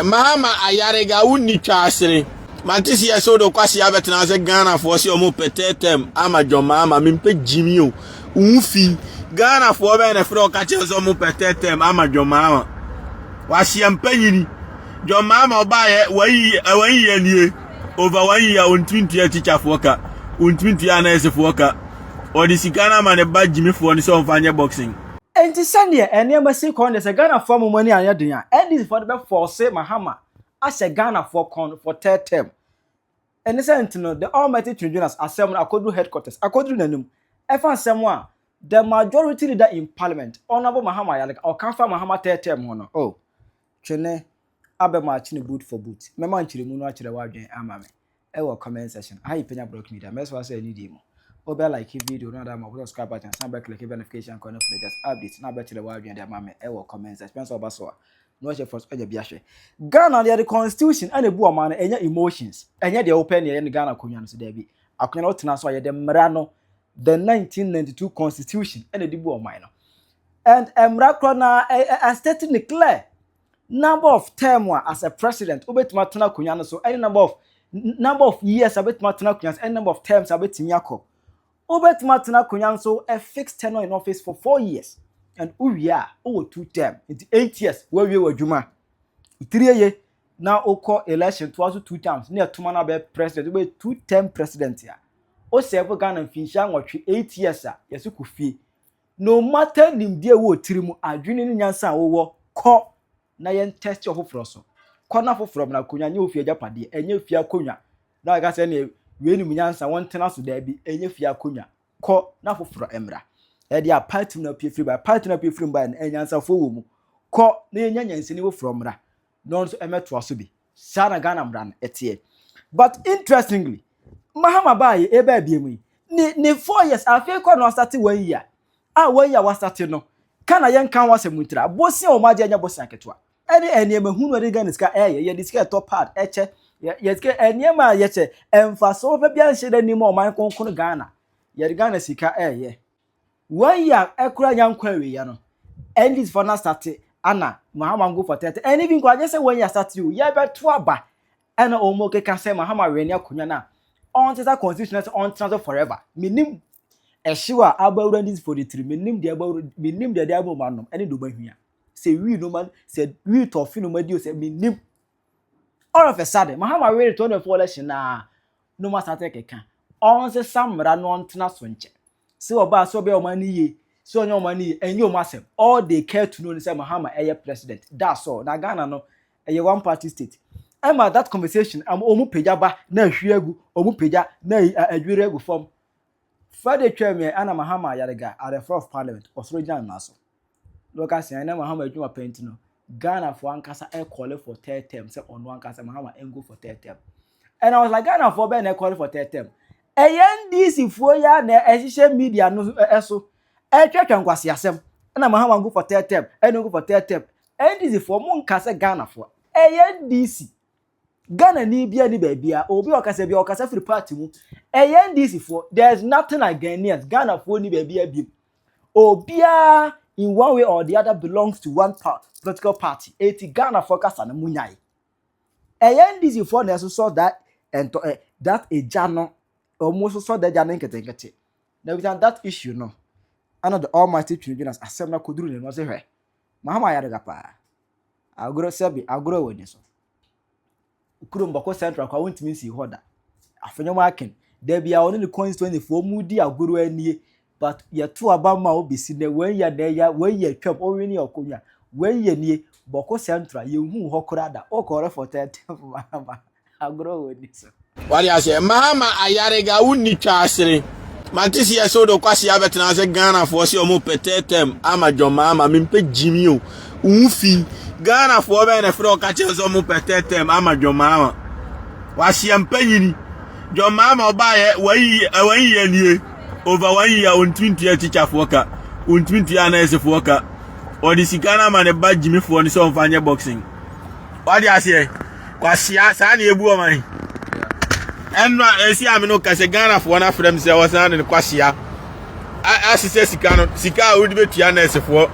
Ɛmaa ma ayarega wo nni twaasere. Mante si ɛsɛ wode ɔkwasea bɛtena ase Ghanafoɔ se ɔmo pɛ third term ama John Mahama mempɛ Jimmy o wo fi Ghanafoɔ bɛn na ɛfrɛ ɔka kyerɛ sɛ ɔmo pɛ third term ama John Mahama waseɛ mpanyini John Mahama ɔbaayɛ wɔn yiyɛ nie over wɔn yiyɛ ɔntumi ntua tikyafoɔ ka ɔntumi ntua anɛɛsefoɔ ka ɔde sika no ama ne ba Jimmyfoɔ no sɛ ɔmfa nyɛ boxing Enti sɛdeɛ nneɛma si kɔ no deɛ sɛ Ghanafoɔ ama mo ani anyɛ den a, NDCfoɔ no bɛfɔɔse Mahama ahyɛ Ghanafoɔ kɔn no for third term. Ɛne sɛ nti no, the almighty Twin Jonas asɛm no akɔduru headquarters, akɔduru n'anim. Ɛfa nsɛm a the majority leader in parliament, Honourable Mahama Ayaleka, ɔka fa Mahama third term ho no, oh, Twene abɛmaakye no boot for boot. Mɛma nkyerɛmu no akyerɛ w'adwene ama me. ɛwɔ comment section aha yɛpɛnya block media mɛsɛ wasɛ ɛne die mu wobɛ like video no ada ma wobɛ subscribe button san bɛ click notification kɔ no firi just update na bɛkyerɛ w'adwene de ama me ɛwɔ comment section pɛn sɛ ɔba so a na wɔhyɛ fɔ so ɛnyɛ bi ahwɛ Ghana no yɛde constitution ɛna ebu ɔman no ɛnyɛ emotions ɛnyɛ deɛ wopɛ ne ɛyɛ no Ghana akonnwa no so daabi akonnwa no wotena so a yɛde mmara no the 1992 constitution ɛna ɛde bu ɔman no and mmara korɔ na ɛstate ne clear Number of term a as a president wobɛtumi atena akonnwa no so ɛne number of number of years a wobɛtumi atena akonnwa no so ɛne number of terms a wobɛtumi akɔ wobɛtumi atena akonnwa no so a fixed tenure in office for four years and wowie a wowɔ two term nti eight years woawie w'adwuma tiri ye na wokɔ election toa so two terms ne ɛtoma no abɛyɛ president wobɛyɛ two term president a wosɛfo ghana mfinhyia nwɔtwe eight years a yɛse kɔ fie No matter nimdeɛ a ɛwɔ wo tiri mu, adwene ne nyansa a wowɔ, kɔ na yɛn tɛste ɔfoforɔ so. Kɔ na foforɔ mmra, akonnwa nyɛ wo fie agyapadeɛ, ɛnyɛ fie akonnwa na waka sɛ ɛneɛ wei nim nyansa wɔntena so, daabi, ɛnyɛ fie akonnwa, kɔ na foforɔ mmra. Ɛdeɛ a party mu na apue firi baeɛ, party no a apue firi mu baeɛ no, anyansafoɔ wɔ mu, kɔ na yɛnya nyansani foforɔ mmra. na ɔno nso mmɛtoa so bi. Saa na Ghana mmara no ɛteɛ. But interestingly, Mahama baayɛ ɛbaa abie mu yi, ne ne four years afei kɔ na wasate one year a one year wasate no, ka na yɛnka ho asɛm ntira. Bosea wɔn agye ɛnyɛ bosea ketewa. Ɛne nneɛma hunu ɛde Ghana sika ɛyɛ, yɛde sika ɛtɔ pad, ɛkyɛ, yɛ sika nneɛma a yɛkyɛ, mfasoɔ pa biara nhyɛ da nnim a ɔman kronkron Ghana, yɛde Ghana sika ɛyɛ. One year ɛkura nya nkɔ awieɛ no NDC fɔ no asate ana Mahama nko fɔ tɛtɛ ɛne bi nkɔ agye sɛ one year asate o yɛbɛto aba ɛna ɔmo keka sɛ Mahama wɛne akonya no a ɔntesa constitution no sɛ ɔntena so forever menim ɛhyew a aba awura NDC fɔ de tiri menim deɛ aba awura menim deɛ de ama ɔmo anom ɛne deɛ ɔmo ahwia sɛ wii no ma sɛ wii tɔfe no ma di o sɛ menim All of a sudden, Mahama were to ne fɔlɔ hyɛ na no ma sate keka. Ɔn se sa mmara no ɔntena so nkyɛ. Se ɔbaa se ɔbɛyɛ ɔmo ani yie, se ɔnyɛ ɔmo ani yie, ɛnyɛ ɔmo asɛm. All they care to know ne sɛ Mahama ɛyɛ president. That's all. Na Ghana no, ɛyɛ one party state. Ɛma that conversation am ɔmo pagya ba na ahwie agu, ɔmo pagya na adwiri agu fam. Friday twaa mu ɛ, ɛna Mahama Yariga at the floor of parliament, ɔsɔre gyina ne nan so. na ɔka sɛ ɛnɛ mahama adwuma pɛ nti no Ghana for ankasa ɛ calling for third term sɛ ɔno ankasa mahama ɛngo for third term and I was like Ghana for bɛn na ɛ calling for third term ɛyɛ NDC foɔ yi a na ɛhyehyɛ media no ɛso ɛtwɛtwɛ nkwasi asɛm ɛna mahama go for third term ɛna go for third term NDC foɔ mo nka sɛ Ghana foɔ ɛyɛ NDC Ghanani biara ni baabiara obi a ɔkasa bi ɔkasa firi party mu ɛyɛ NDC foɔ there is nothing like Ghanaians Ghana foɔ ni baabiara biem obiara in one way or the other belongs to one political party eti Ghana foɔ kasa no munyae ɛyɛ NDC foɔ na ɛsosɔ that ɛntɔ ɛ that egya no wɔn sosɔ that egya no nketenkete na bisa that issue no ɛna the almighty twene bi na asɛm na koduru ne no ɔsɛ hwɛ mahama ayɛ adaka paa. Agorɔ sɛbi agorɔ wɔ ne so. Kurom bɔko central koraa wontumi nsii hɔ da. Afenyɔm aken. Dabiaa ɔne ne constituency foɔ ɔmo di agorɔ anie. But yɛto aba ma wo besi nɛ wei yɛ nɛ ya wei yɛ atwam owini ɔkonya wei yɛ nie bɔko central yɛnhuu hɔ koraa da wokɔ refɔtɛɛtɛɛ mfomahama. agorɔ wɔ ni so. wade aseɛ maama ayarega wo ni twa asere mante si ɛsɛ wode kwasi abɛtena sɛ ghanafoɔ sɛ ɔmo pɛ tɛtɛm ama dwɔ maama mempɛ gyimi o wo fi ghanafoɔ bɛyɛ na ɛfrɛ ɔka kyerɛ sɛ ɔmo pɛ tɛtɛm ama dwɔ maama waseɛ mpɛ nyini dwɔ maama ɔbaayɛ wayi yɛ nie over one year ɔntumi ntua tikyafoɔ ka ɔntumi ntua anɛɛsefoɔ ka ɔde sika no ama ne ba gyimifoɔ no sɛ ɔmfa nyɛ boxing wade aseɛ Kwasia saa na ebu wɔn ayi. Ɛnna esi ame no kasa Ghanafoɔ no afrɛ me sɛ wɔsan de no kwasia asesɛ sika no sika a wode bɛtua nɛɛsefoɔ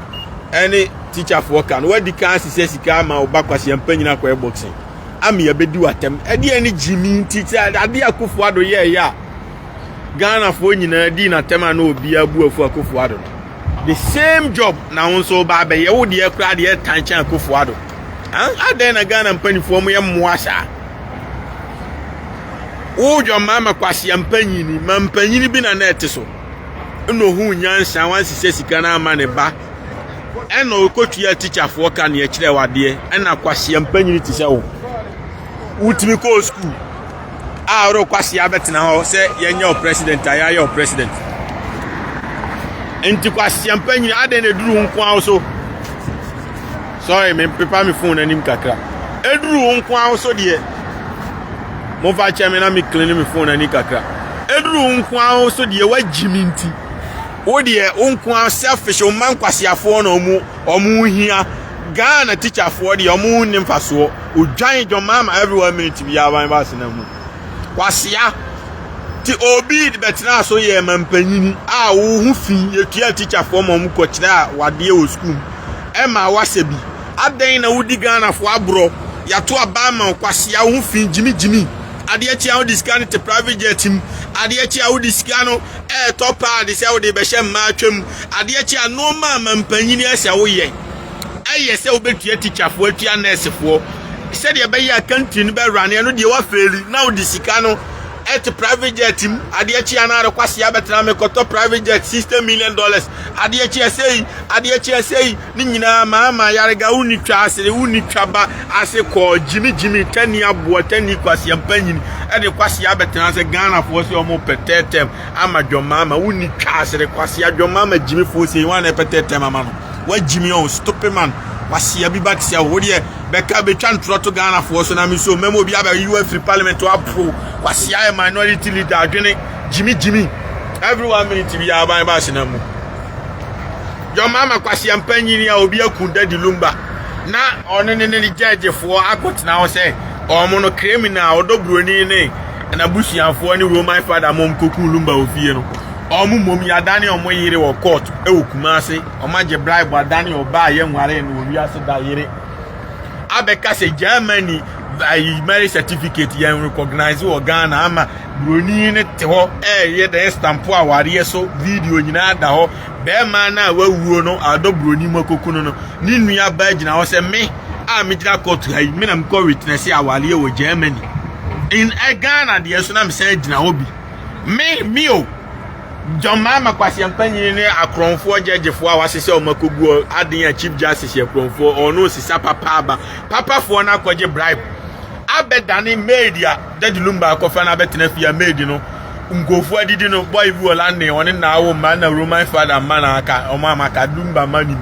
ɛne tikyafoɔ ka no wadi kan asesɛ sika ama wo ba kwasia mpanyin akɔyɛ boxing ama yɛbɛdi w'atɛm ɛdeɛ ne gyimi nti sɛ adeɛ akofo ado yɛɛyɛ a Ghanafoɔ nyinaa dii n'atɛm a na obiara bu afu akofo ado no The same job na wo nso ba abɛyɛ wo deɛ koraa deɛ ɛtan kyɛn akofo ado adɛn na ghana mpanimfoɔ mo yɛ mmoa saa wodwa mmaa ma kwasea mpanyini ma mpanyini bi na na ɛte so ɛna ohun nyansa wansisɛ sika no ama ne ba ɛna ɔkɔtua tikyafoɔ ka neɛ kyerɛ wadeɛ ɛna kwasea mpanyini te sɛ wo wotumi kɔɔ sukuu a ɔdɔ kwasi abɛtena hɔ sɛ yɛnyɛ wo president a yɛayɛ wo president nti kwasiampa nyina adɛn na ɛduru wo nko a wo so sorry mempepa me fon anim kakra ɛduru wo nko a wo so deɛ momfa kyɛ me na me clean me fon ani kakra ɛduru wo nko a wo so deɛ woagyi me nti wo deɛ wo nko a selfish wo ma nkwasiafoɔ na ɔmo ɔmo hia ghana tikyafoɔ deɛ ɔmo nni mfasoɔ odwan dwom ama every one minute bi aban ba asena mu kwasia ti obi bɛtena so yɛ ma mpanyini a wohu fi yɛtua tikyafoɔ ma ɔmo kɔkyerɛ a wadeɛ wɔ sukuu ɛma wasɛ bi adɛn na wodi ghanafoɔ aborɔ yɛato aban ma kwasia wohu fi gyimigyimi adeɛ kyi a wode sika no te private jet mu adeɛ kyi a wode sika no ɛɛtɔ paade sɛ wode bɛhyɛ mmaa twam adeɛ kyi a nnoɔma a ma mpanyini ɛsɛ woyɛ ɛyɛ sɛ wobɛtua tikyafoɔ atua nɛɛsefoɔ sɛdeɛ ɛbɛyɛ a country no bɛrane ɛno deɛ wafeeli na wode sika no ɛte private jet mu adeɛ kyi anaa de kwase abɛtena mekɔtɔ private jet sixty million dollars adeɛ kyi ɛsɛyi adeɛ kyi ɛsɛyi ne nyinaa maama yarega wonni twa ase wonni twa ba ase kɔɔ gyimi gyimi tani aboa tani kwase mpanyini ɛde kwase abɛtena sɛ ghanafoɔ sɛ ɔmo pɛ tɛɛtɛm ama dwɔmaama wonni twa ase de kwase adwɔmaama gyimifoɔ sɛ yi wɔn a ɛpɛ tɛɛtɛm ama no Wagyi me ɔn stupid man wasia bi back sia wo deɛ bɛka bɛtwa ntorɔ to Ghana foɔ so na me so mɛma obi abɛ yiwa firi parliament wapro wasia yɛ minority leader adwene gyimi gyimi every one minute bi aban ba asena mu yɔ mama kwasia mpa nyini a obi aku dadi lumba na ɔne ne ne gyɛgye foɔ akɔtena hɔ sɛ ɔmo no criminal ɔdɔ buroni ne na busuafoɔ ne roman father mom koku lumba ofie no Wɔn mmom yɛadane wɔn yere wɔ court wɔ Kumasi. Wɔn agye bribe adane ɔbaa a yɛnwaree no wɔ wiase da yere. Abɛka sɛ Germany ayi marriage certificate yɛn recognize wɔ Ghana ama buroni no te hɔ ɛyɛ dɛn stampo awareɛ so video nyinaa da hɔ. Bɛrima no a wawuo no adɔ buroni mu akokunu no. Ne nua baa gyina hɔ sɛ me a megyina court ha yi me na mekɔ witness awareɛ wɔ Germany. In Ghana deɛ so na mesan gyina hɔ bi. Me, me o. John Mahama kwasia mpanyin ne akorɔnfoɔ gyɛgyefoɔ a wɔahyehyɛ wɔn akɔgu aden a chief justice yɛ korɔnfoɔ ɔno osisa papa aba papafoɔ no akɔgye bribe abɛdane maid a dadi lumba akɔfa no abɛtena fie a maid no nkurɔfoɔ adidi no boy bi wɔ london ɔne na awo mma na roman father mma na aka wɔn a maka lumba mma nim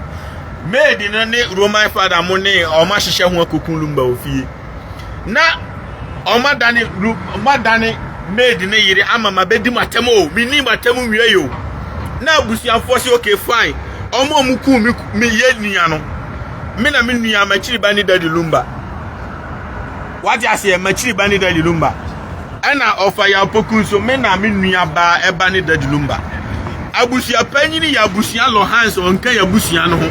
maid no ne roman father mo ne wɔn ahyehyɛ ho akɔku lumba wɔ fie na ɔma dane ɔma dane maid ne yere ama ma bɛdi mu atɛm o menni mu atɛm nwie yi o na abusuafoɔ sɛ okay fine ɔmo a ɔmo kuu me me yɛ nua no me na me nua makyiri ba ne dadi lumba wate aseɛ makyiri ba ne dadi lumba Ɛna Ɔfayapoku nso, me na me nua baa ɛba ne Daddy Lumba. Abusua panyini yɛ abusua lɔ Hans ɔnka yɛ abusua no ho.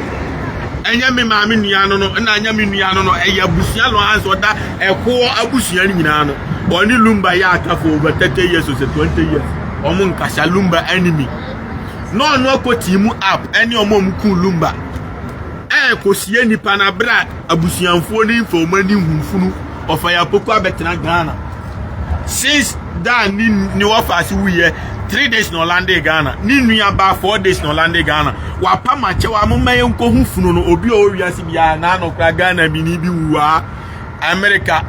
Ɛnyɛ me maame nua no no, ɛna ɛnyɛ me nua no no, ɛyɛ abusua lɔ Hans ɔda ɛkoɔ abusua no nyinaa no. Ɔne Lumba yɛ aka for over 30 years or sɛ 20 years. Ɔmo nkasa Lumba enemy. Na ɔno akɔ team up ɛne ɔmo a ɔmo kuu Lumba. Ɛɛ kɔ sie nipa na bra. abusuanfoɔ no nfa wɔn ani nhu funu ɔfa yɛ apoko abɛtena ghana since dan ne ne wɔfa ase wuyɛ three days na ɔlande ghana ne nua ba four days na ɔlande ghana wapa makyɛ wa mo mɛyɛ nkɔ ho funu no obi a ɔwɔ wiase biara na ano kora ghana bi ni bi wuwa amerika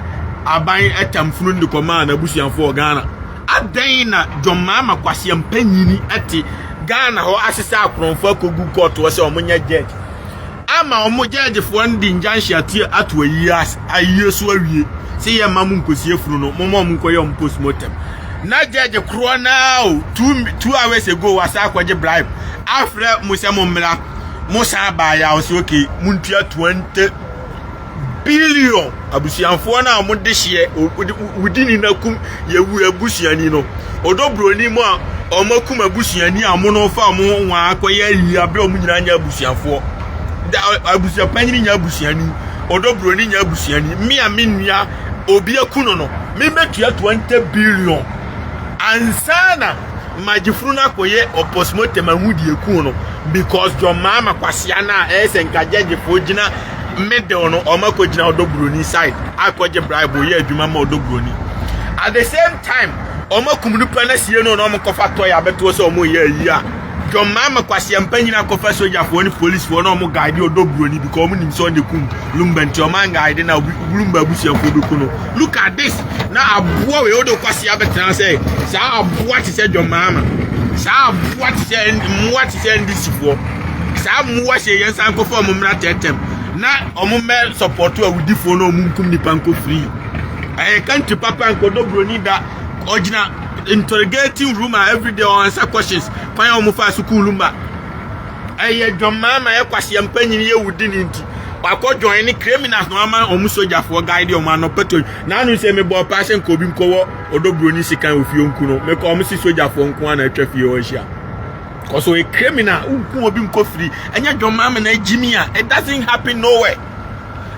aban ɛtam funu no de kɔmaa n'abusuafoɔ ghana adɛn na john maama kwaseɛ mpanyini ɛte ghana hɔ asesa akorɔmfoɔ akɔgu kɔɔtoɔ sɛ wɔn nyɛ judge ama wɔn gyɛɛgyefoɔ no de ngyanhye ato ato ayie ase ayie so awie sɛ yɛ mma mo nkɔsi afunu no moma wɔn nkɔyɛ wɔn postmortem na gyɛɛgye korɔ naa o two two hours ago wasa akɔgye bribe afrɛ mo sɛ mo mmra mo san baa yɛ a wɔsi okay mo ntua twenty billion abusuafoɔ no a wɔn dehyeɛ wodi ni na kum yɛwu abusuani no ɔdɔ buroni mu a wɔn akum abusuani a wɔn no fa wɔn ho wɔn akɔyɛ ayi abere wɔn nyinaa nyɛ abusuafoɔ da abusuapanyini nyɛ abusuani ɔdɔ buroni nyɛ abusuani mmea a me nua obi aku no no mebɛtua twenty billion ansa na magyefunu no akɔyɛ ɔpɔsmɔtɛm ahu deɛ eku no because John Mahama kwasea no a ɛyɛ sɛ nka gyɛgyefoɔ gyina middle no ɔmo akɔgyina ɔdɔ buroni side akɔgye bribe yɛ adwuma ma ɔdɔ buroni at the same time ɔmo akum nipa na sie no na ɔmo kɔfa tɔy abɛtoɔ sɛ ɔmo yɛ ayi a john mahama kwasia mpa nyina kɔfa sogyafoɔ ne policefoɔ na ɔmo guide ɔdɔ buroni because ɔmo nim sɛ ɔne kum lumba nti ɔmo anguide na lumba abusuafoɔ bɛku no look at this na aboa wei wode kwasia bɛtena sɛ saa aboa te sɛ john mahama saa aboa te sɛ mmoa sɛ ndisifoɔ saa mmoa hyɛ yɛn san kɔfa wɔn mmra tɛɛtɛm na wɔn mmɛ sɔpɔto awudifoɔ na wɔn nkum nipa nkɔ firi ɛyɛ kantri papa nkɔdɔ buroni da ɔgyina interrogating room a everyday wɔn ansa questions kwan a wɔn fa sukuu ma ɛyɛ dwammaa ma yɛ kwaseɛ mpanyin yɛ wudi ne nti wakɔ join ne criminals na wama wɔn sogyafoɔ guide wɔn ano pɛtɔ na ano sɛ mebɔ ɔpaa sɛ nka obi nkɔwɔ ɔdɔ buroni sekan ofie nku no mekɔ wɔn si sogyafoɔ nko ara na atwa fie hɔ ahyia. Because ɔyɛ criminal, wogu obi nkofiri, ɛnyɛ dwom ama na agyimi a, it doesn't happen nowhere.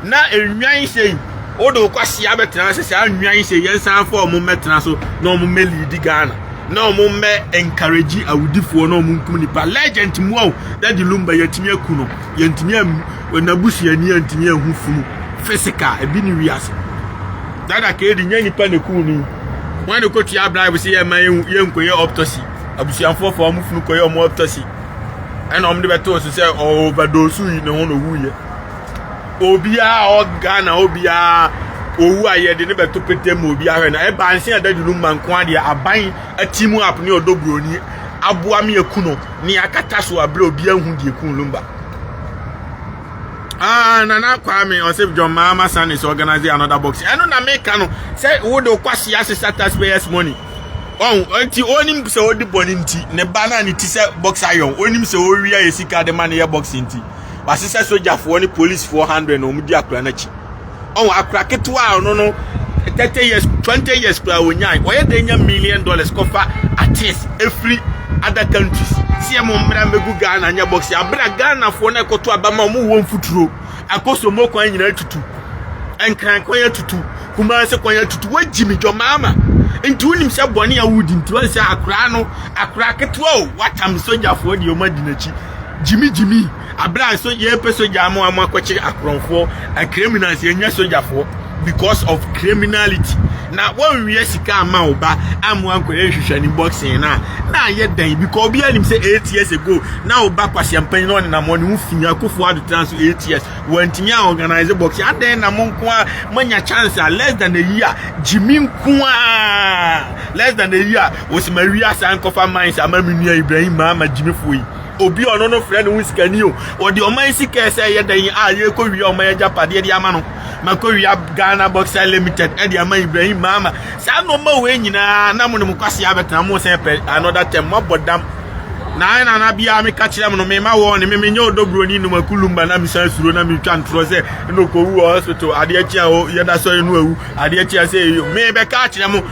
Na nnwan sei, wode wo kwasea bɛtena sɛ saa nnwan sei yɛnsan fa ɔmo mmɛtena so na ɔmo mmɛ leadi Ghana na ɔmo mmɛ encourage awudifoɔ na ɔmo nkum nipa legend mu o dadi lumba yɛntumi aku no yɛntumi n'abusuani yɛntumi ahu funu physical ebi ne wiase dada kedi nyɛ nipa na ekum no wɔn de kɔtua bribe sɛ yɛma yɛnkɔyɛ autopsy abusuafoɔ fa wɔn funu kɔyɛ wɔn autopsy ɛna wɔn de bɛtoo so sɛ ɔwɔ overdose yi ne ho na owu yɛ obiara a ɔwɔ ghana obiara owu a yɛde ne bɛto pete mu obiara hwɛ na ɛbaa nse adadi no ma nko adeɛ aban ati mu app ne ɔdɔ buroni aboa mi eku no ne akata so abere obiara hu deɛ kun lumba. Ah, Nana Kwame ɔsɛ John Mahama Sanders organize another box. Ɛno na meka no sɛ wode wokɔ ase asesa taxpayers money. Ɔn, ɔnti onim sɛ odi bɔne nti, ne ba no a ne ti sɛ bɔksa yɔn, onim sɛ owia yɛ sika de ma no yɛ bɔksa nti, wasesɛ sogyafoɔ ne polisfoɔ hundred na wɔn di akora no akyi. Ɔn, akora ketewa a ɔno no thirty years, twenty years koraa onyae, ɔyɛ dɛn nya million dollars kɔfa artists efiri other countries sɛ yɛ mo mmra mmegu Ghana nyɛ bɔksa, abere a Ghanafoɔ no a ɛkɔto aba ma wɔn wɔ mfuturo. Akoso mo kwan nyinaa tutu. Nkran kwan atutu. Kumase kwan atutu. Wagyi me dwɔ maama. Nti wonim sɛ bɔne a wodi nti wɔn sɛ akora no akora ketewa o watam sogyafoɔ deɛ wɔn adi n'akyi. Gyimi gyimi abira so yɛpɛ sogya ama wɔn akɔkye akorɔmfoɔ. Criminals yɛnyɛ sogyafoɔ. because of criminality na wɔnwia sika ama wo ba amoa nkɔyɛ nhwehwɛne boxing no a na ayɛ dɛn because obiara nim sɛ eight years ago na wo ba kwasiampanyin na ɔnenam hɔ ne ho fi akofo adotena so eight years wɔantumi a organize boxing adɛn na mo nko a moanya chance a less than a year gyimi nko a less than a year wɔsima wi asa nkɔfa mines ama me nua ibrahim ma ama gyimifoɔ yi obi ɔno no frɛ ne ho sikani o ɔde ɔman sika ɛsɛ ɛyɛ dɛn a yɛkɔ wia ɔman agyapadeɛ de ama no makɔwia ghana boxer limited ɛde ama ibrahim maama saa nnoɔma wei nyinaa na mo ne mo kwasea bɛtena mo sɛ pɛ another term moabɔ dam na ayɛ nana biara meka kyerɛ mo no mema wɔ ne me menyɛ ɔdɔburoni nom akulumba na mesan suro na metwa ntorɔ sɛ ɛna ɔkɔwu wɔ hospital adeɛ akyi a yɛda sɔre no awu adeɛ akyi a sɛ ɛyɛ mebɛka akyerɛ mo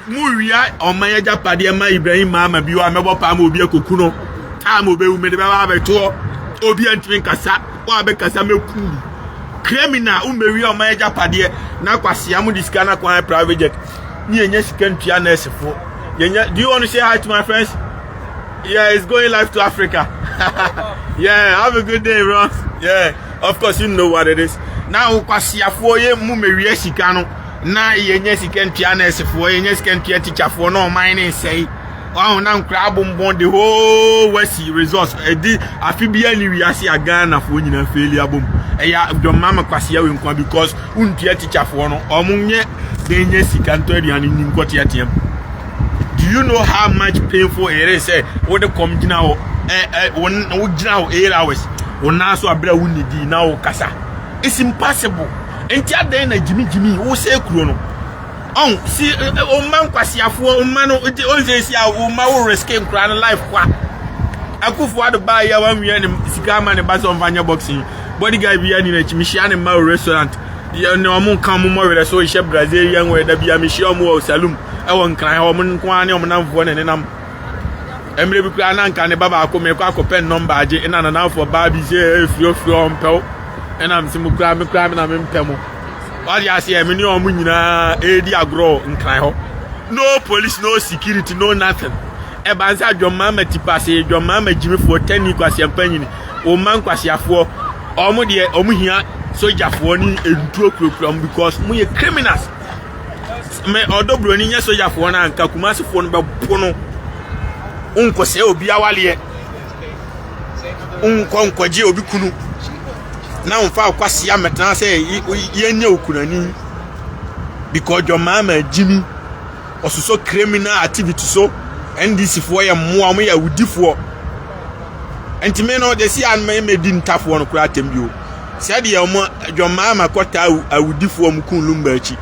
mo wia ɔma yɛgya padeɛ ma ibrahim maama bi wɔ a mɛbɔ paa ma obi akɔku no time obɛwu mede bɛba abɛtoɔ obi antumi nkasa Wo a bɛkasa mɛku wo. Criminal wo mmɛwia ɔman agyapadeɛ na kwasea mo de sika no akwan private jet ne yɛnya sika ntua nɛɛsefoɔ yɛnya do you want to say hi to my friends yeah it's going live to Africa yeah have a good day bro yeah of course you know what it is na wo kwaseafoɔ yɛ mu mmɛwia sika no na yɛnya sika ntua nɛɛsefoɔ yɛnya sika ntua tikyafoɔ na ɔman ne nsɛe ɔho na nkora abombɔn the whole west resource ɛdi eh, afi bi ɛni wiase a ghana foɔ nyinaa fɛli abom ɛyɛ eh, dɔmma ma kwasia wɔ nkwa because wontua tikya foɔ no ɔmo nyɛ dɛn nyɛ sika ntɔ aduane ni nkɔ teateam do you know how much painful it is sɛ wode kɔm gyina hɔ ɛ eh, ɛ wɔn wogyina hɔ eight hours wɔn nan so abira wo nidi na wɔkasa it's impossible nti adɛn na gyimigyimi wosɛ kuro no. Ɔn si o mma nkwasiafoɔ o mma no o nse si a o mma wo risk nkura no life kwa. Akufo ado baa ya wan wiɛ ne sika ama ne ba sɛ ɔmfa nyɛ boxing. Bodyguard bi ani n'akyi mehyia ne mma o restaurant. Yɛ ne ɔmo nka ɔmo mmɔ werɛ so hyɛ Brazilian wɔ ɛda bia mehyia ɔmo wɔ saloon ɛwɔ nkran hɔ ɔmo nko ara ne ɔmo namfoɔ ne nenam. Mmerɛ bi koraa na nka ne ba baako mekɔ akɔpɛ ne nɔmba agye ɛna nanamfoɔ baa bi sɛ ɛɛ frio frio ɔmpɛw ɛna mse mo koraa me koraa me na mempɛ mo. wade aseɛ me ne ɔmo nyinaa ɛredi agorɔ nkran hɔ no police no security no nothing ɛba nsa adwɔmmaa ma tipase adwɔmmaa ma gyimifoɔ tani kwasiampa nyini ɔma nkwasiafoɔ ɔmo deɛ ɔmo hia sogyafoɔ ne ntuo kurakura ɔmo because mo yɛ criminals me ɔdɔ buroni nyɛ sogyafoɔ no anka kumasefoɔ no bɛpo no nkɔsɛ obi awaleɛ wonkɔ nkɔgye obi kunu na womfa wo kwasea mmɛtena sɛ yɛnyɛ wo kunani because john mahama gyimi ɔsosɔ criminal activity so ndc foɔ yɛ mmoa wɔn yɛ awudifoɔ ntumi no de si anoma mmɛdi ntafoɔ no koraa atɛm bio sɛdeɛ wɔn john mahama kɔtaa awudifoɔ wɔn kun lumba akyi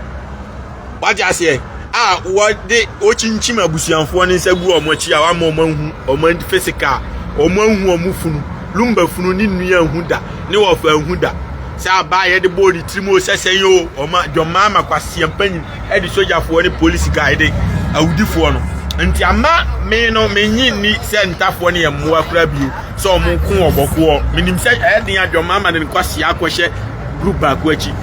wagye aseɛ a wɔde wɔkyinkyim abusuafoɔ no nsa gu wɔn akyi a wɔama wɔn ahu wɔn fisika a wɔn ahu wɔn funu lumba funu ne nnua ahu da ne wɔfa ahu da sɛ abaa yɛde bɔɔ ne tirim o sɛsɛn o wɔma dwɔmaa ma kwaseɛ mpanyin de sogyafoɔ ne polisi guy de awudifoɔ no nti ama me no menyi ni sɛ ntafoɔ no yɛ mmoa kora bio sɛ wɔn nko wɔ bɔkoɔ menim sɛ ɛyɛ den adwɔmaa ma de ne kwaseɛ akɔhyɛ group baako akyi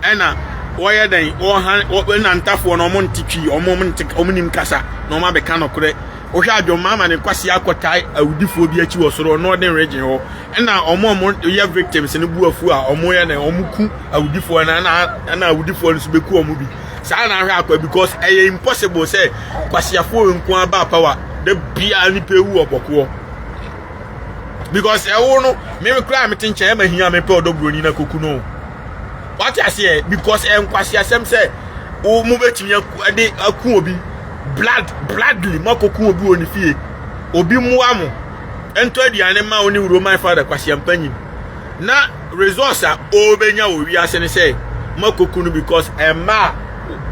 ɛna wɔyɛ dɛn wɔhan wɔn nantafoɔ no wɔn nte twi wɔn wɔn nte wɔn nim kasa na wɔn abɛka nɔkorɛ wohwɛ adwomma ama ne kwasi akɔtae awudifoɔ bi akyi wɔ soro northern region hɔ ɛna wɔn wɔn yɛ victims no bu afu a wɔn yɛ dɛn wɔn ku awudifoɔ no ɛna ɛna awudifoɔ no nso bɛku wɔn bi saa na ahwɛ akɔ because ɛyɛ impossible sɛ kwasiafoɔ nko ara ba power da biara nipa ewu wɔ bɔkoɔ because ɛwo no mmemme koraa a mete nkyɛn ɛma hia mepɛ ɔdɔ buroni na koku no. wate aseɛ because ɛyɛ nkwaseasɛm sɛ wo mo bɛtumi de aku obi blood bloodly moakɔku obi wɔ ne fie obi mmoa mo ɛntɔ aduane ma wo ne wuro my father kwaseampa nyim na resource a ɔbɛnya wɔ wiase ne sɛ moakɔku no because ɛma a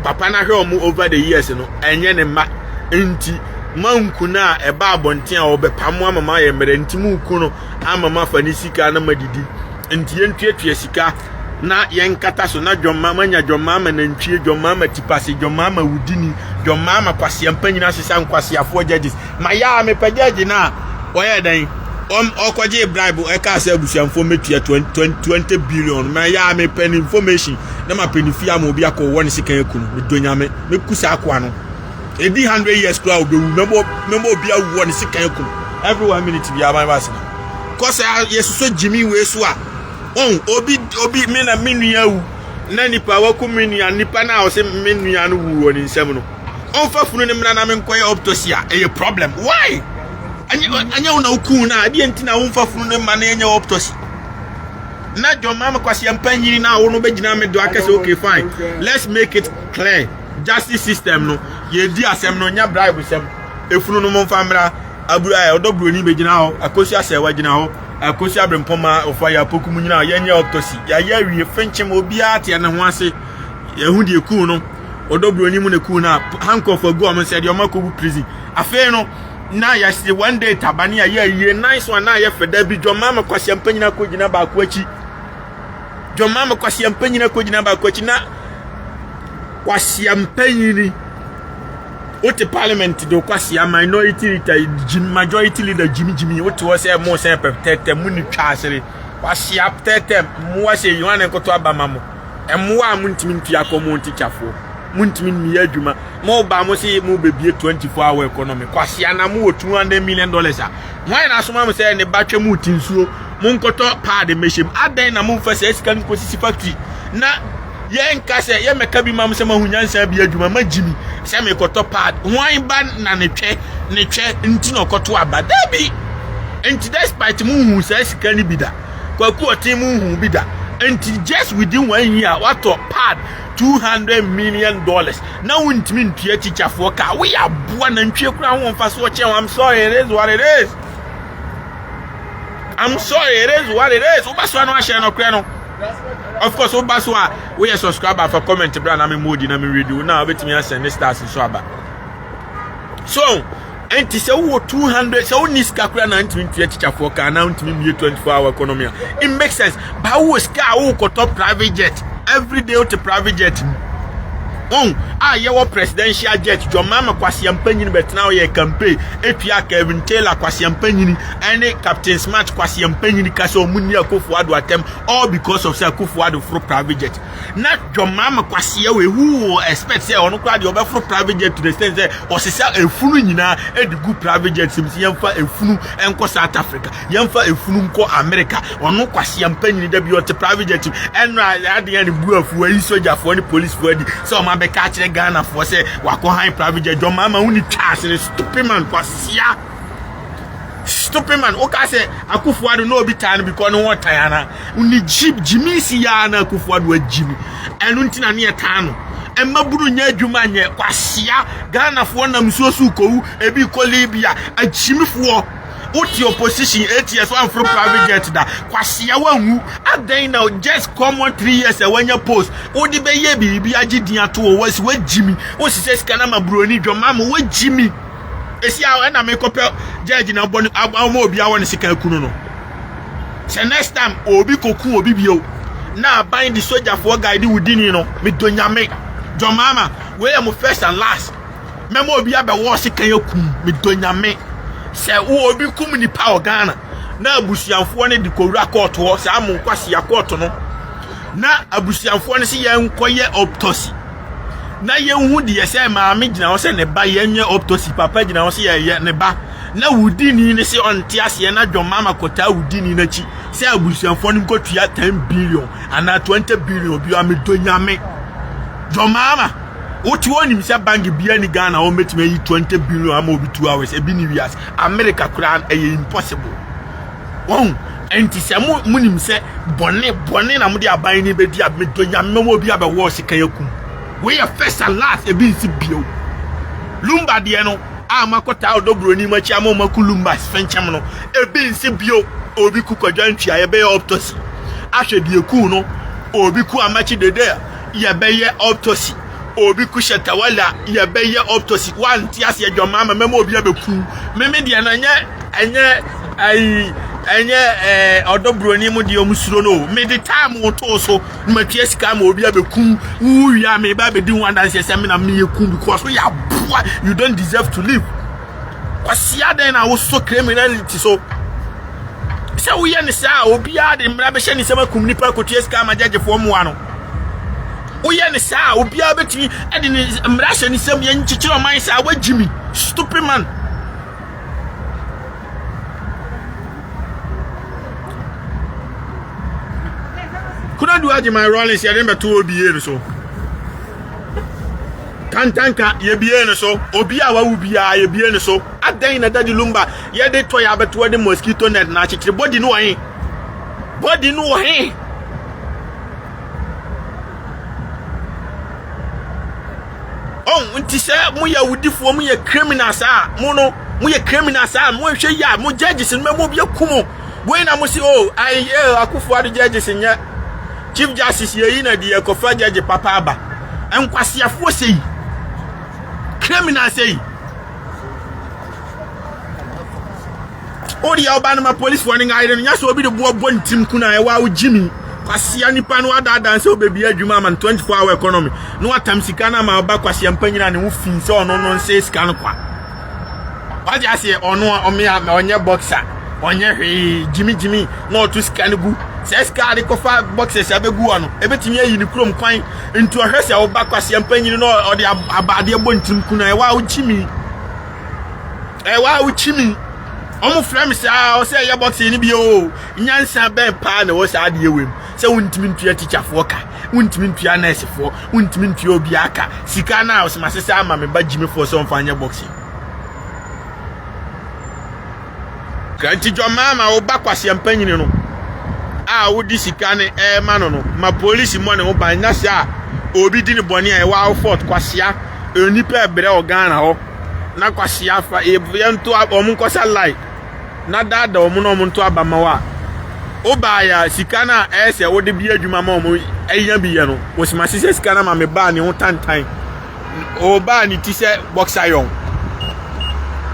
papa no ahwɛ ɔmo over the years no ɛnyɛ ne mma nti manku no a ɛba abɔnten a ɔbɛpa mo ama ma ayɛ mmerɛ nti monku no ama ma fa ne sika na madidi nti yɛntuatua sika na yɛnkata so na dwɔmmaa manya dwɔmmaa ma nantwie dwɔmmaa ma tipase dwɔmmaa ma wudini dwɔmmaa ma kwasea mpa nyina sesa nkwaseafoɔ judges ma yɛ a mepɛ judge no a ɔyɛ dɛn ɔkɔgye bribe ɛkaa sɛ abusuamfoɔ mɛtua 20 billion ma yɛ a mepɛ ne information na mapɛ ne fie ama obi akɔ wɔ ne sekan aku no medɔ nyame mɛku saa akoa no ɛdi 100 years koraa wobɛwu mɛbɔ obi awu wɔ ne sekan aku no every one minute biara mabɛasena kɔ sɛ yɛsosɔ gyimi wei so a Oh, obi, obi, me na me nua wu. Na nipa waku me nua, nipa na ɔse me nua no wu wɔ ne nsam no. Ɔmfa funu ne mmra na me nkɔyɛ autopsy a, ɛyɛ problem. Why? Anyɛ, anyɛ wo na wokuu no a, ɛdeɛ nti na womfa funu no mma na yɛnyɛ autopsy? Na John Mama Kwasi Ampa Nyini na wo no bɛgyina me do akɛsɛ, okay, fine. Let's make it clear. Justice system no, yɛdi asɛm no, nya bribe sɛm. Efunu no mo mfa mmra. Abura ɛ, ɔdɔ buroni bɛgyina hɔ akosi asɛ wagyina hɔ akosi abrempɔn ma ɔfa yɛ apoku mu nyina yɛnyɛ autopsy yɛayɛ awie fenkyem obiara teɛ ne ho ase yɛhu deɛ kuu no ɔdɔ buroni mu na kuu no a handcuff agu ɔmo nsɛ deɛ ɔmo akɔgu prison afei no na yɛse one day tabane a yɛ ayie nice one na yɛ fɛ da bi dwɔma me kwasi ampa nyina kɔgyina baako akyi dwɔma me kwasi ampa nyina kɔgyina baako akyi na kwasi ampa nyini wote parliament de kwasia minority leader gyim majority leader gyimigyimi wote hɔ sɛ mo sɛ pɛtɛtɛ mo ni twa asere kwasia pɛtɛtɛ mmoa sɛ yi wane nkoto aba ma mo mmoa a montumi ntua kɔ mo ntikyafoɔ montumi mmiyɛ adwuma mo ba mo se mo bɛbie 24 hour economy kwasia na mo wɔ 200 million dollars a hwan na asoma mo sɛ ne ba twɛ mo ti nsuo mo nkɔtɔ paade mmɛhyɛm adɛn na momfa sɛ sika no kɔsisi factory na Yɛnka sɛ yɛmmɛka bi mam sɛ mahu nyansa bi adwuma ma gyimi sɛ mekɔtɔ pad hwan ba na ne twɛ ne twɛ nti na ɔkɔto aba dabi nti despite mu nhu saa sika no bi da kwaku ɔten mu nhu bi da nti just within one year watɔ pad 200 million dollars na wontumi ntua tikyafoɔ ka woyɛ aboa nantwie kora ho mfa so ɔkyɛ ho I'm sorry it is what it is I'm sorry it is what it is wobɛsoa no ahyɛ no korɛ no of course woba so a woyɛ subscriber fa comment bra na me modi na me read wo na wobɛtumi asɛn ne stars nso aba so ɛnti sɛ wowɔ 200 sɛ wonni sika koraa na ntumi ntua tikyafoɔ kaa na ntumi mmie 24 hour economy a it makes sense ba wowɔ sika a wowokɔtɔ private jet every day wote private jet mu wɔn a yɛwɔ presidential jet dwɔma ma kwaseampa nyini bɛtena ɔyɛ campaign etua kevin taylor kwaseampa nyini ɛne captain smart kwaseɛ mpanyin ka sɛ ɔmo nni akofo ado atɛm all because of sɛ akofo ado foro private jet na dwɔmaama kwaseɛ wɔ ewu wɔ expect sɛ ɔno koraa deɛ ɔbɛforo private jet to the extent sɛ ɔsesa efunu nyinaa ɛde gu private jet sim sɛ yɛmfa efunu nkɔ south africa yɛmfa efunu nkɔ america ɔno kwaseɛ mpanyin da bi ɔte private jet ɛno a adeɛ ne bu afuo ayi sogyafoɔ ne policefoɔ adi sɛ ɔmo abɛka akyerɛ ghanafoɔ sɛ wakɔ han private jet dwɔmaama wo ne twa asene stupid man kwaseɛ stupid man woka sɛ akufo ado na obi taa no because ne ho ɔtan ana ne jib jimi si ya na akufo ado agyim ɛno nti na ne yɛ taa no ɛma buru nyɛ adwuma nyɛ kwasia ghanafoɔ nam nsuo so kowu ebi kɔ libya agyimifoɔ wote opposition eight years wamforo private jet da kwasia wanwu adɛn na just common three years a wanya post wode bɛyɛ biribi agye din ato wɔ wasi wagyimi wosisɛ sika no ma buroni dwamama wagyimi esi a ɛna me kɔpɛ judge na bɔ ne ama obi awɔ ne sika kunu no sɛ next time obi koku obi bio na aban de sogyafoɔ guide wo dini no me dɔ nyame jɔ mama wei yɛ mo first and last mɛma obi abɛwɔ sika yɛ kum me dɔ nyame sɛ wo obi kum nipa wɔ Ghana na abusuafoɔ no de kɔwura kɔɔto hɔ saa mo nkwasi akɔɔto no na abusuafoɔ no sɛ yɛn nkɔyɛ autopsy na yɛnhu deɛ sɛ maame gyina hɔ sɛ ne ba yɛnyɛ autopsy papa gyina hɔ sɛ yɛyɛ ne ba na wodi ni ne sɛ ɔnte aseɛ na dwɔn mama kɔtaa wodi ni n'akyi sɛ abusuafoɔ no nkɔtua 10 billion anaa 20 billion bi a medɔ nyame dwɔn mama wote onim sɛ bank bia ni Ghana wɔn bɛtumi ayi 20 billion ama obi two hours ebi ni wiase America koraa ɛyɛ impossible Wahu? Enti sɛ mo munim sɛ bɔne bɔne na mode aban ne bɛdi a medɔ nyame mɛma obi abɛwɔ sekan akum. Wei yɛ first and last ebi nsi bio. Lumba deɛ no a makɔtaa ɔdɔ buroni makyi ama ɔma ku lumbas fɛnkyɛm no ebi nsi bio. Obi ku kwadwa ntua yɛbɛyɛ autopsy ahwɛ deɛ kuu no. Obi ku amakye dede yɛbɛyɛ autopsy. Obi kuhyɛ tawala yɛbɛyɛ optosi wante ase adwamaa ma mɛma obi abɛkuw meme deɛ no ɛnyɛ ɛnyɛ ayi ɛnyɛ ɛɛ ɔdɔ buroni mu deɛ ɔmo suro no o mede time wo too so na matua sika ma obi abɛkuw wo wia me ba abɛdi ho adanseɛ sɛ me na meyɛ kuw because woyɛ aboa you don't deserve to live kwasia dɛn na wosɔ criminality so sɛ woyɛ ne saa obiara de mmara bɛhyɛ ne nsɛm akum nipa akotua sika ma gyagyefoɔ mmoa no Woyɛ no saa a obiara betumi de ne mmara ahyɛ ne nsam. Yɛn nkyekyere ɔman saa wa Jimmy stupid man. Kuna do agye my rollins yɛde no bɛto obi yie no so. Kantanka yɛbie no so obi a wawu biara yɛbie no so. Adɛn na dadi lumba yɛde tɔ yɛ abɛtoa de mosquito net na akyekyere body no wɔ he? Body no wɔ he? ɔn nti sɛ moyɛ awudifoɔ moyɛ criminals a mo no moyɛ criminals a monhwɛ yi a mo judges no mɛmu obi aku mo wei na mo se o ayɛ akufoɔ ado judges nyɛ chief justice yɛyi na deɛ kɔfa judge papa aba nkwaseafoɔ sɛ yi criminals sɛ yi Wo deɛ ɔba no ma policefoɔ no nka yere no nyɛ sɛ obi de boɔ bɔ ne tirim kuna ɛwɔ a wogye mi kwasea nipa no adaadan sɛ wobɛbi adwuma ama no 24 hour economy na watam sika no ama ɔba kwasea mpa nyina ne ho fi sɛ ɔno no nsɛ sika no kwa wagye aseɛ ɔno a ɔmea ɔnyɛ boxer ɔnyɛ hwee gyimigyimi na ɔto sika no gu sɛ sika de kɔfa boxers abɛgu hɔ no ɛbɛtumi ayi ne kurom kwan nti ɔhwɛ sɛ ɔba kwasea mpa nyini na ɔde abaadeɛ bɔ ntirim kuna ɛwɔ a wogyimi Ɛ wa wo chimi. Ɔmo frɛ me saa ɔsɛ ɛyɛ bɔksen no bio o. Nyansa bɛn paa na ɛwɔ saa adeɛ wei mu. Sɛ wontumi ntua tikyafoɔ ka, wontumi ntua nɛɛsefoɔ, wontumi ntua obiara ka. Sika no a ɔsoma sesa ama me ba gyimifoɔ sɛ ɔmfa nyɛ bɔksen. Kranti dwɔmaa ma wo ba kwaseɛ mpanyini no a wode sika no ɛrema no no ma polisi mmɔ ne ho ban na sɛ a obi di ne bɔne a ɛwɔ awo fort kwasea onipa ɛbrɛ wɔ Ghana hɔ. na kwahyia afa yɛbɔ yɛn nto wɔn nkɔsa line na daadaa wɔn na wɔn nto aba ma wa wobaa yɛ a sika no a ɛyɛ sɛ wode bi adwuma ma wɔn anya bi yɛ no wɔsima se sɛ sika no ma me baa ne ho tantan ɔbaa ne ti sɛ boxer yɔn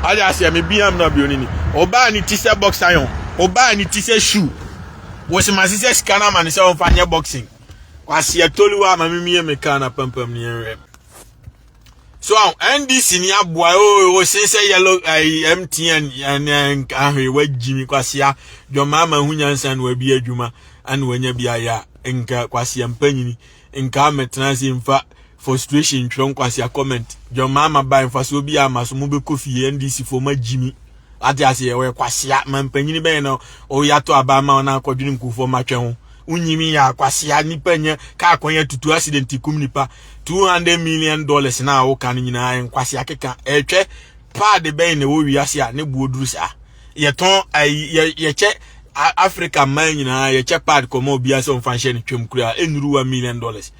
ɔde aseɛ me bia mu na bi onini ɔbaa ne ti sɛ boxer yɔn ɔbaa ne ti sɛ shoe wɔsima se sɛ sika no ma ne sɛ wɔmfa nyɛ boxing kwaseɛ toliwa ma memie me kaa na pampam ne yɛnwɛ So NDC ni aboa o se se yellow MTN and ahwe wa jimi kwasia dwoma ma hunya nsa no abi adwuma ana wanya bi aya nka kwasia mpanyini nka metena se mfa frustration twere kwasia comment dwoma ma ba mfa so bi ama so mo be kofi NDC fo ma jimi Wate aseɛ ɔyɛ kwasea mampanyini bɛyɛ na ɔyɛ ato aba ma ɔna akɔdwene nkufoɔ matwɛ ho wonyimi yɛ akwasea nipa nyɛ kaa kwan atutu accident kum nipa 200 million dollars na awoka no nyinaa nkwasea keka ɛtwɛ paade bɛyɛ na ɛwɔ wiase a ne boɔ duru saa yɛtɔn yɛkyɛ Africa mmaa nyinaa yɛkyɛ paade kɔma obiara sɛ ɔmfa nhyɛ no twam kura ɛnuru 1 million dollars